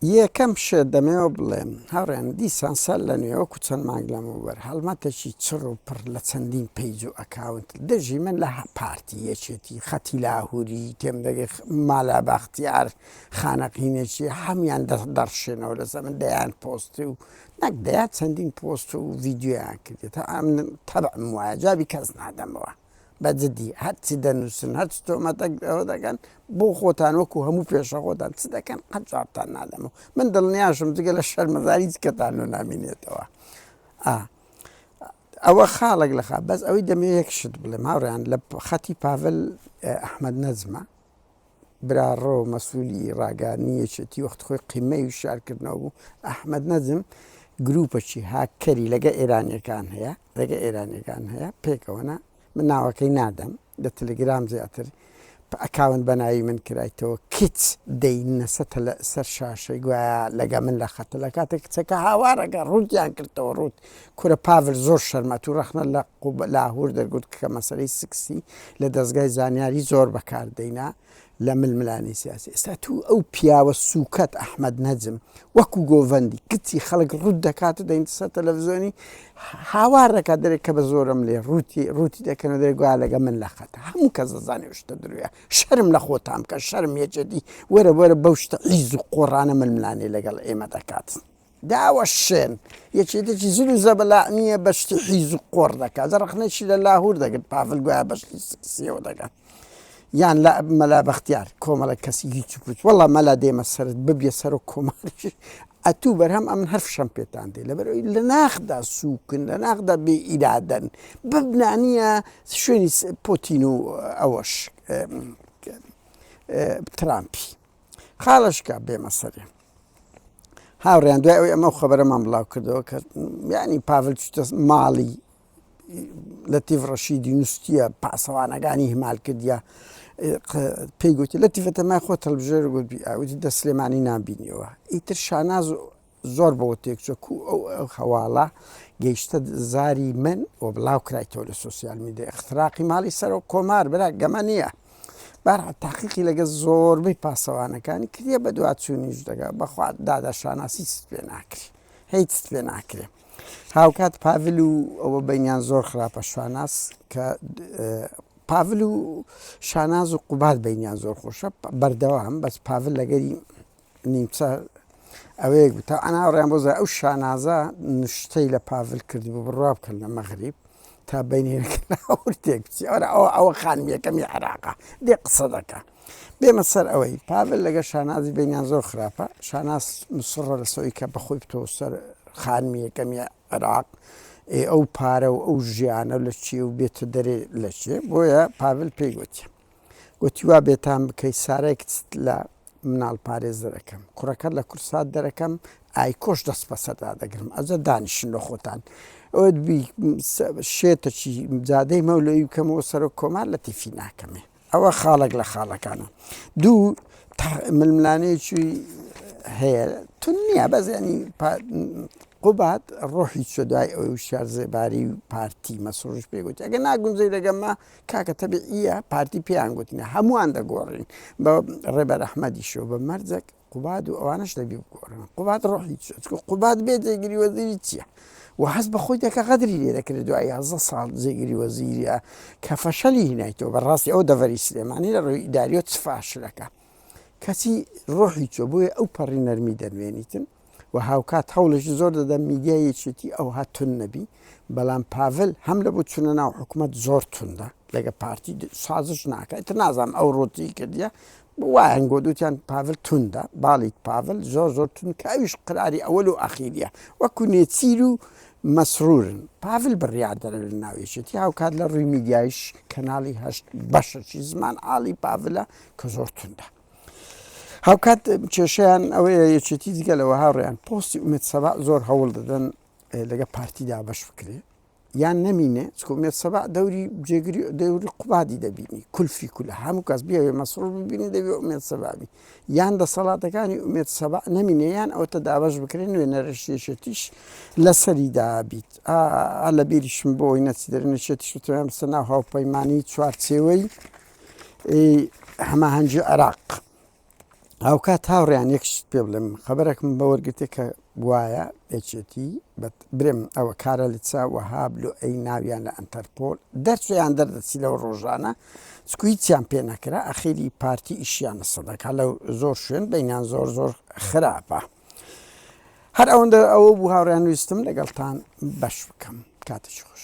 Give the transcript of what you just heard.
یەکەم شت دەمەوێت بڵێم، هاوڕێیان دیسان سەر لەنوێ وەکو چەند مانگ لەمەوبەر هەڵمەتێکی چڕ و پڕ لە چەندین پەیج و ئەکاونت دژی من لە پارتی، یەکێتی، خەتی لاهوری، تێمدەگەی مالا بەختیار، خانەقینێکی، هەموویان دەڕشێنەوە لەسەر من دەیان پۆست و نەک دەیان چەندین پۆست و ڤیدیۆیان کردووە تا من تەبعم وایە جوابی کەس نادەمەوە. بە جدی هەر چ دەنوسن هەر چ تۆمەتەک ئەوە دەکەن بۆ خۆتان وەکو هەموو پێشە خۆتان چ دەکەن قەت جوابتان نادەمەوە من دڵنیاشم جگە لە شەرمەزاری کەتان و نامینێتەوە ئا ئەوە خاڵک لە خا بەس ئەوەی دەمێ یەک شت بڵێ ماڕیان لە خەتی پاڤل ئەحمد نەجمە براڕۆ مەسولی ڕاگەیاندنی یەکێتی وەخت خۆی قیمەی وشیار کردنەوە بوو ئەحمەد نەجم گروپەکی هاککەری لەگە ئێرانیەکان هەیە لەگە ئێرانیەکان هەیە پێکەوەە من ناوەکەی نادەم لە تلگرام زیاتر ئەکاون بەناوی من کرایتەوە کچ دەینەسە لە سەر شاشەی گوایە لەگە من لە خەتە لە کاتێک کچەکە هاوارەکە ڕووتیان کردەوە ڕوت کورە پاڤل زۆر شەرمە ئەتوو ڕەخنە لە قوبە لاهور دەرگرت کە مەسەلەی سکسی لە دەزگای زانیاری زۆر بەکار دەینا لە ململانێ سیاسی ئێستا ئەتوو ئەو پیاوە سوکەت ئەحمەد نەجم وەکو گۆڤەندی کچی خەڵک ڕوت دەکات و دەینتە سەر تەلەڤزۆنی هاوار دەکات دەرێک کە بە زۆرم لێ ڕوتی ڕوتی دەکەن و دەێ گویا لەگە من لە خەت هەموو کە زەزانانی شتە درویە شەرم لە خۆتان بکە شەرم یەجدی وەرە وەرە بەو شتە عیز و قۆڕانە ململانێ لەگەڵ ئێمە دەکات. داوەشێن، یەکێتێکی زل و زەبەلاح نییە بە شتی حیز و قۆڕ دەکا، جا ڕەخنەیشی لە لاهوور دەگرت پاڤل گوایە بە شتی سێکسییەوە دەکا، یان لە مەلا بەختیار، کۆمەڵە کەسی هیچ و پووچ، وەڵڵا مەلا دێمە سەرت ببیە سەرۆک کۆماریش ئەتوو بەرهەم ئەمن هەر فشەم پێتان دێ، لەبەر ئەوەی لە ناخدا سووکن، لە ناخدا بێ ئیرادەن، ببنا نییە شوێنی پۆتین و ئەوەش ترامپی خاڵە شکا بێمە سەرێ. هاوڕێیان دوای ئەوی ئەمە خەبەرەمان بڵاو کردەوە کە یعنی پاڤل چتە ماڵی لە تیڤ ڕەشیدی نووسە پاسەوانەکانی هەمال کردیا پێی گوتی لە تیفەتە مای خۆ تەلبژێر گوتی ئاوتی دە سلێمانی نبینیەوە ئیتر شاناز زۆر بەوە تێکچۆ کو ئەو ئەو هەواڵە گەیشتە زاری من و بڵاو کرایتەوە لە سوسیال میدە اختراقی ماڵی سەرۆک کۆمار برا گەمە نییە. بەهەرحاڵ تاقیقی لەگەڵ زۆربەی پاسەوانەکانی کردیە بەدواچوونیش دەگا بەخوا دادا شاناسی چت پێ ناکری هەی چت پێ ناکرێ هاوکات پاڤل و ئەوە بینیان زۆر خراپە شاناس کە پاڤل و شاناز و قوباد بینیان زۆر خۆشە بەردەوام بەس پاڤل لەگەری نیمچە ئەوەیەک بوو تا ئەناڕیان بۆ ئەو شانازە نشتەی لە پاڤل کرد بوو بڕوا بکەن لە مەغریب تا بینێکتێک ئەوە ئەوە خانمیەکەمی عراقا دێ قسە دەکە بێمە سەر ئەوەی پاڤل لەگە شانازی بینیان زۆر خراپە شاناز مسڕە لە سەوی کە بەخۆی بتۆ سەر خانمیەکەمی عراق ئەو پارە و ئەو ژیانە لە چی و بێتە دەرێ لە چێ بۆیە پاڤل پێی گوتیە گۆتی، وا بێتام بکەی سارای کچت لە مناڵ پارێز دەرەکەم، کوڕەکەت لە کورسات دەرەکەم، ئایکۆش دەست بەسەر دادەگرم، ئەجە دانیشن لۆ خۆتان ئۆت بی شێتەکی جادەی مەولەوی بکەمەوە سەرۆک کۆمار لە تیفی ناکەمێ. ئەوە خاڵێک لە خاڵەکانە دوو ململانێکی هەیە تو نییە بەزیانی قوبات ڕۆحی چۆدای ئەوی شار زێباری و پارتی مەسرڕش پێگوت ئەگە ناگونجی لەگەمە کاکە تەبعییە پارتی پێیان گوتنە هەمووان دەگۆڕین بە ڕێبەر ئەحمەدیش و بە مەرجەک قوباد و ئەوانش دەبی بگۆڕن قوباد ڕۆحی قوباد بێ جێگری وەزیری چییە و هەز بە خۆی دەکە غەدری لێ دەکرێت دوای یازە ساڵ جێگری وەزیریە کە فەشەلی هینایتەوە بەڕاستی ئەو دەڤەری سلێمانی لە ڕووی ئیداریۆ چ فاشلەکە کەچی ڕۆحی چۆ بۆیە ئەو پەڕی نەرمی دەنوێنیتن و هاوکات هەوڵێکی زۆر دەدەم میدیای یەکێتی ئەوها توند نەبی، بەڵام پاڤل هەم لە بۆ چونە ناو حکومەت زۆر توندە لەگە پارتی سازش ناکە ئیتر نازانم ئەو ڕوتی کردیە وایان گۆت وتیان پاڤل توندە باڵیک پاڤل زۆر زۆر تون کە ئەویش قراری ئەوەل و ئەخیریە وەکو نێچیر و مەسرورن پاڤل بڕیار دەرە لە ناو یەکێتی هاوکات لە ڕووی میدیایش کەناڵی هەشت بەشەکی زمان عاڵی پاڤلە کە زۆر توندە هاوکات کێشیان ئەوەیە یەکێتی دیگە لە وەهاڕیان پۆستی ئومێت سەبا زۆر هەوڵ دەدەن لەگە پارتیدا بەش بکرێ یان نەمینێ چکومێت سەبا دەوری جێگری دەوری قوبادی دەبینی کولفی کول هەموو کەس بێوێ مەسرور ببینی دەبێ ئومێت سەبابی یان دەسەڵاتەکانی ئومێت سەبا نەمینێ یان ئەوتە دابش بکرێن نوێ نەرشێشێتیش لەسەری دابیت لە بیریشم بۆی نەچ دەرنشێتیش توانسە ناو هاوپەیمانانی چوارچێوەی ی هەماهەنگی عێراق. هاوکات هاوڕێیان یەک شت پێ بڵێم خەبەرەکم بە وەرگرتێ کە گوایە یەکێتی برێم ئەوە کارە لە چا وەهاب لۆ ئەی ناویان لە ئەنتەرپۆل دەرچیان دەردەچی لەو ڕۆژانە سکویتیان پێ نەکرا ئەخیری پارتی ئیشیان لە سەدەکە لە زۆر شوێن بینیان زۆر زۆر خراپە. هەر ئەوەندە ئەوە بوو هاوڕیان ویستم لەگەڵتان بەش بکەم کاتێکی خۆش.